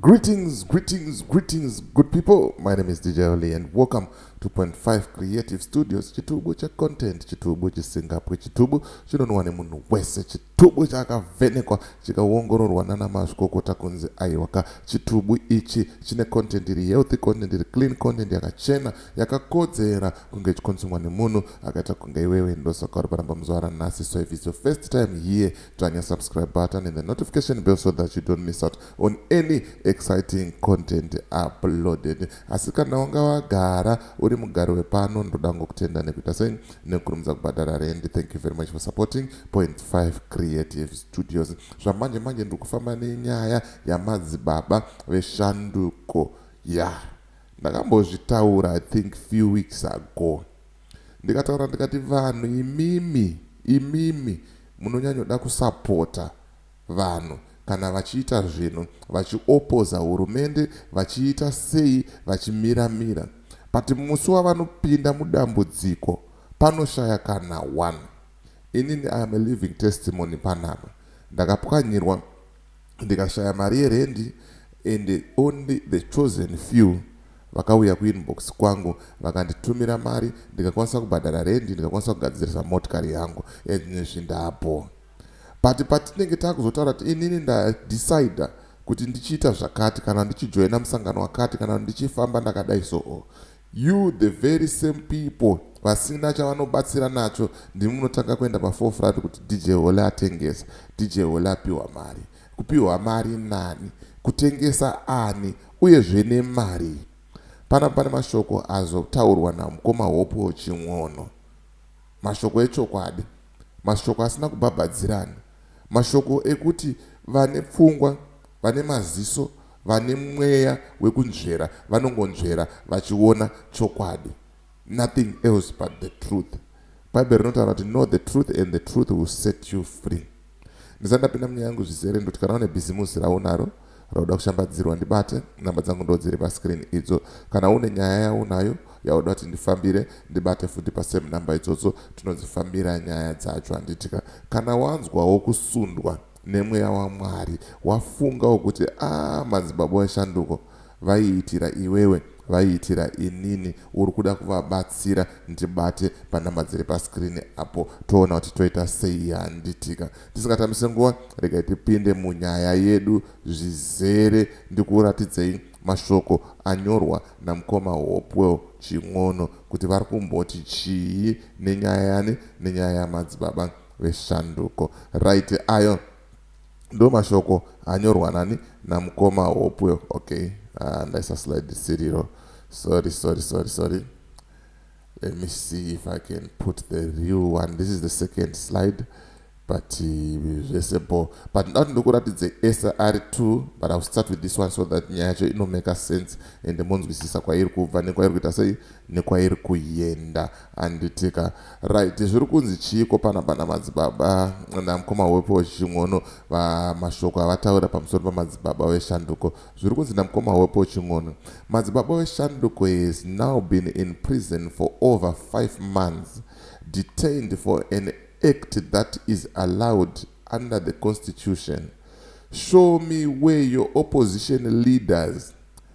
Greetings, greetings, greetings, good people. My name is DJ Oli, and welcome to Point Five Creative Studios. Chitubu cha content, chitubu chisingapwe, chitubu chinonwa nemunhu wese, chitubu chakavhenekwa chikaongororwa nana mazvikokota kunzi aiwaka. Chitubu ichi chine content iri healthy content, iri clean content, yakachena, yakakodzera kunge ichikonsumwa nemunhu akaita kunge iwewe. Ndosaka uri paramba muzuva ranhasi, so if it's your first time here Tanya subscribe button and the notification bell so that you don't miss out on any exciting content uploaded asi kana wanga wagara uri mugari wepano ndoda ngokutenda nekuita sei nekukurumidza kubhadhara rendi thank you very much for supporting point 5 creative studios zvamanje manje ndiri kufamba nenyaya yamadzibaba veshanduko ya yeah. ndakambozvitaura i think few weeks ago Ndikataura ndikati vanhu imimi imimi munonyanyoda kusapota vanhu kana vachiita zvinhu vachiopoza hurumende vachiita sei vachimira mira but musi wavanopinda mudambudziko panoshaya kana one inini I am a living testimony panapa ndakapwanyirwa ndikashaya mari yerendi and only the chosen few vakauya kuinbox kwangu vakanditumira mari ndikakwanisa kubhadhara rendi ndikakwanisa kugadzirisa motikari yangu and nezvi ndapo but patinenge takuzotaura kuti inini ndadecida kuti ndichiita zvakati kana ndichijoina musangano wakati kana ndichifamba ndakadai soo You the very same people vasina chavanobatsira nacho ndimi munotanga kuenda paforefront kuti DJ Holy atengesa, DJ Holy apiwa mari. Kupiwa mari nani? Kutengesa ani? Uyezve nemarii? Panapa pane mashoko azotaurwa namukoma Hopewell Chin'ono. Mashoko echokwadi. Mashoko asina kubhabhadzirana. Mashoko ekuti vane pfungwa, vane maziso, Vane mweya wekunzvera vanongonzvera vachiona chokwadi nothing else but the truth. Bible rinotaura kuti know the truth and the truth will set you free. Ndisati ndapinda munyaya yangu zvizere ndoti kana une bhizimusi raunaro rauda kushambadzirwa ndibate, namba dzangu ndo dziri pascreen idzo. Kana une nyaya yaunayo yauda kuti ndifambire ndibate futi pasame number idzodzo tinodzifambira nyaya dzacho handitika. Kana wanzwawo kusundwa nemweya waMwari wafungawo kuti aah madzibaba weshanduko vaiitira iwewe vaiitira inini uri kuda kuvabatsira ndibate panumber dziri pascreen apo toona kuti toita sei handitika tisingatambise nguva regai tipinde munyaya yedu zvizere ndikuratidzei mashoko anyorwa namukoma Hopewell Chin'ono kuti vari kumboti chii nenyaya yani nenyaya yamadzibaba veShanduko right ayo ndomashoko anyorwa nani namukoma Hopwe okay uh, ndaisa slide siriro sorry sorry sorry sorry let me see if I can put the real one this is the second slide but uh, zvese uh, bo but ndinoda kuti ndikuratidze SR2 but I will start with this one so that nyaya yacho inomeka sense ende monzwisisa kwairi kubva nekwairi kuita sei nekwairi kuyenda anditika right zviri kunzi chiiko panapa namadzibaba namkoma wepo wechichin'ono va mashoko avataura pamusoro pamadzibaba veshanduko zviri kunzi namkoma wepo chin'ono madzibaba veshanduko has now been in prison for over 5 months detained for an act that is allowed under the constitution show me where your opposition leaders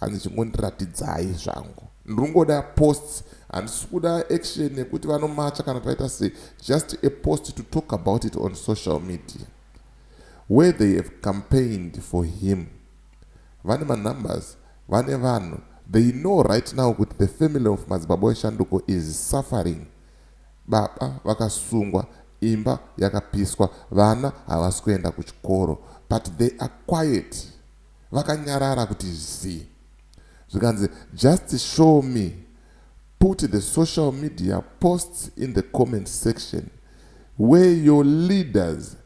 Hanzi chingondiratidzai zvangu ndringoda posts handisikuda action yekuti vanomacha kana paita se just a post to talk about it on social media where they have campaigned for him vane manumbers vane vanhu they know right now kuti the family of madzibaba eshanduko is suffering baba vakasungwa imba yakapiswa vana havasi kuenda kuchikoro but they are quiet Vakanyarara kuti zii. Zvikanzi just show me put the social media posts in the comment section where your leaders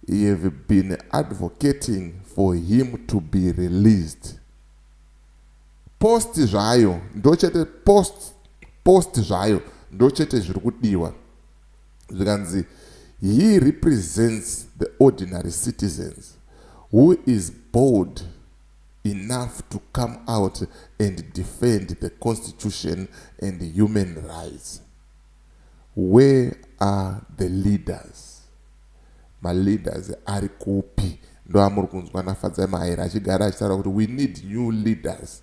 have been advocating for him to be released. Post zvayo ndochete post post zvayo ndochete zviri kudiwa. zvikanzi he represents the ordinary citizens who is bold enough to come out and defend the constitution and human rights where are the leaders maleaders ari kupi ndoamuri kunzwa nafadzai mahaira achigara achitaura kuti we need new leaders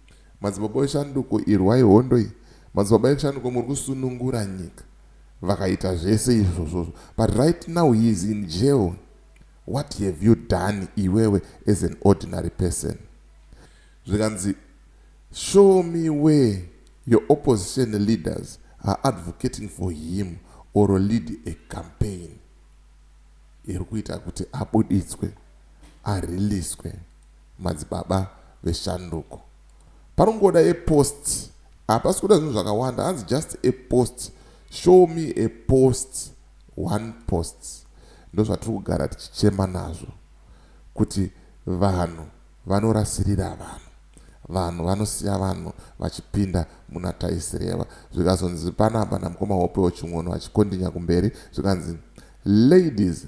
Madzibaba weshanduko irwai hondo iyi madzibaba eshanduko muri kusunungura nyika vakaita zvese izvozvozvo but right now he is in jail what have you done iwewe as an ordinary person zvikanzi show me where your opposition leaders are advocating for him or lead a campaign iri kuita kuti abuditswe ariliswe madzibaba veshanduko panongoda a post hapasi kuda zvinhu zvakawanda hanzi just a post show me a post one post ndozvatiri kugara tichichema nazvo kuti vanhu vanorasirira vanhu vanhu vanosiya vanhu vachipinda muna taisireva zvikazonzi panapa namukoma hopewo ching'ono achikondinya kumberi zvikanzi ladies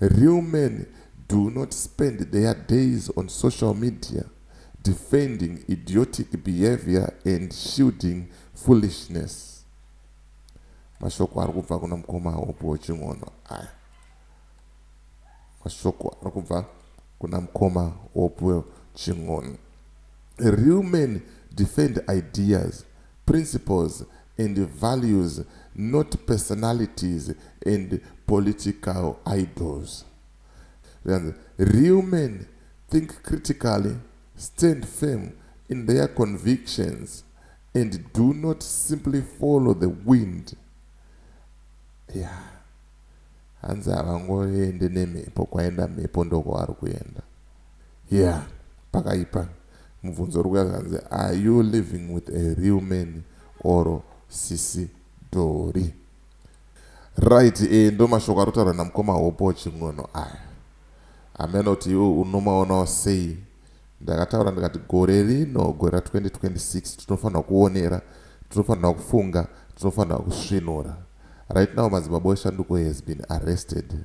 Real men do not spend their days on social media defending idiotic behavior and shielding foolishness. Mashoko ari kubva kuna mukoma Hope Wochin'ono aya. Mashoko ari kubva kuna mukoma Hope Chin'ono. Real men defend ideas principles and values not personalities and political idols zvikanzi real men think critically stand firm in their convictions and do not simply follow the wind yeah hanzi havangoende nemhepo kwaenda mhepo ndokwavari kuenda yeah pakaipa Mubvunzo uri kuuya zvikanzi are you living with a real man or sisi Dhori. Right eh ndomashoko arutaurwa namukoma Hopo Chin'ono aya. Hameno kuti iwe unomaonawo sei. Ndakataura ndikati gore rino gore ra 2026 tinofanirwa kuonera, tinofanirwa kufunga, tinofanirwa kusvinura. Right now Madzimabosha Nduko has been arrested.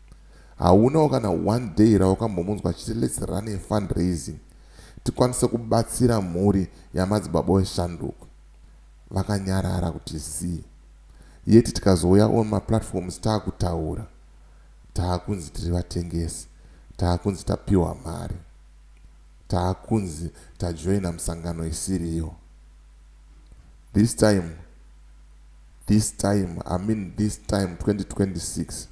Haunawo kana one day rawakambomunzwa achiti let's run a fundraising tikwanise kubatsira mhuri yamadzibaba weshanduko. Vakanyarara kuti zii yet tikazouya on maplatforms taakutaura taakunzi tiri vatengesi, taakunzi tapiwa mari, taakunzi tajoina musangano isiriyo. This time this time I mean this time 2026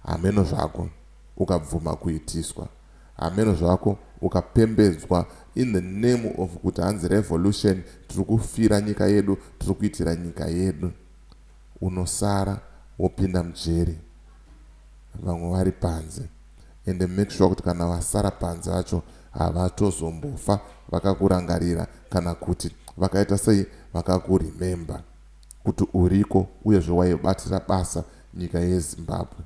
hameno zvako ukabvuma kuitiswa hameno zvako ukapembedzwa in the name of kuti hanzi revolution tiri kufira nyika yedu tiri kuitira nyika yedu unosara wopinda mujeri vamwe vari panze ende make sure kuti kana vasara panze vacho havatozombofa vakakurangarira kana kuti vakaita sei vakakuremember kuti uriko uyezve waibatira basa nyika yezimbabwe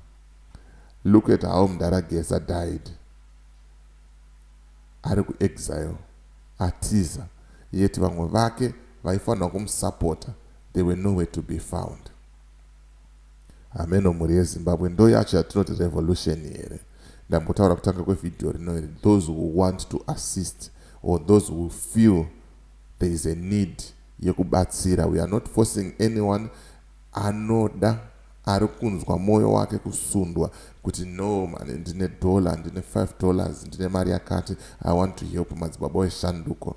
look at how mdara geza died ari kuexile atiza yet vamwe vake vaifanira kumusapota they were nowhere to be found hameno mhuri yezimbabwe ndo yacho yatinoti revolution here ndambotaura kutanga kwevhidhiyo rino here those who want to assist or those who feel there is a need yekubatsira we are not forcing anyone anoda ari kunzwa mwoyo wake kusundwa kuti no mani ndine dollar ndine 5 dollars ndine mari yakati i want to help madzibaba weshanduko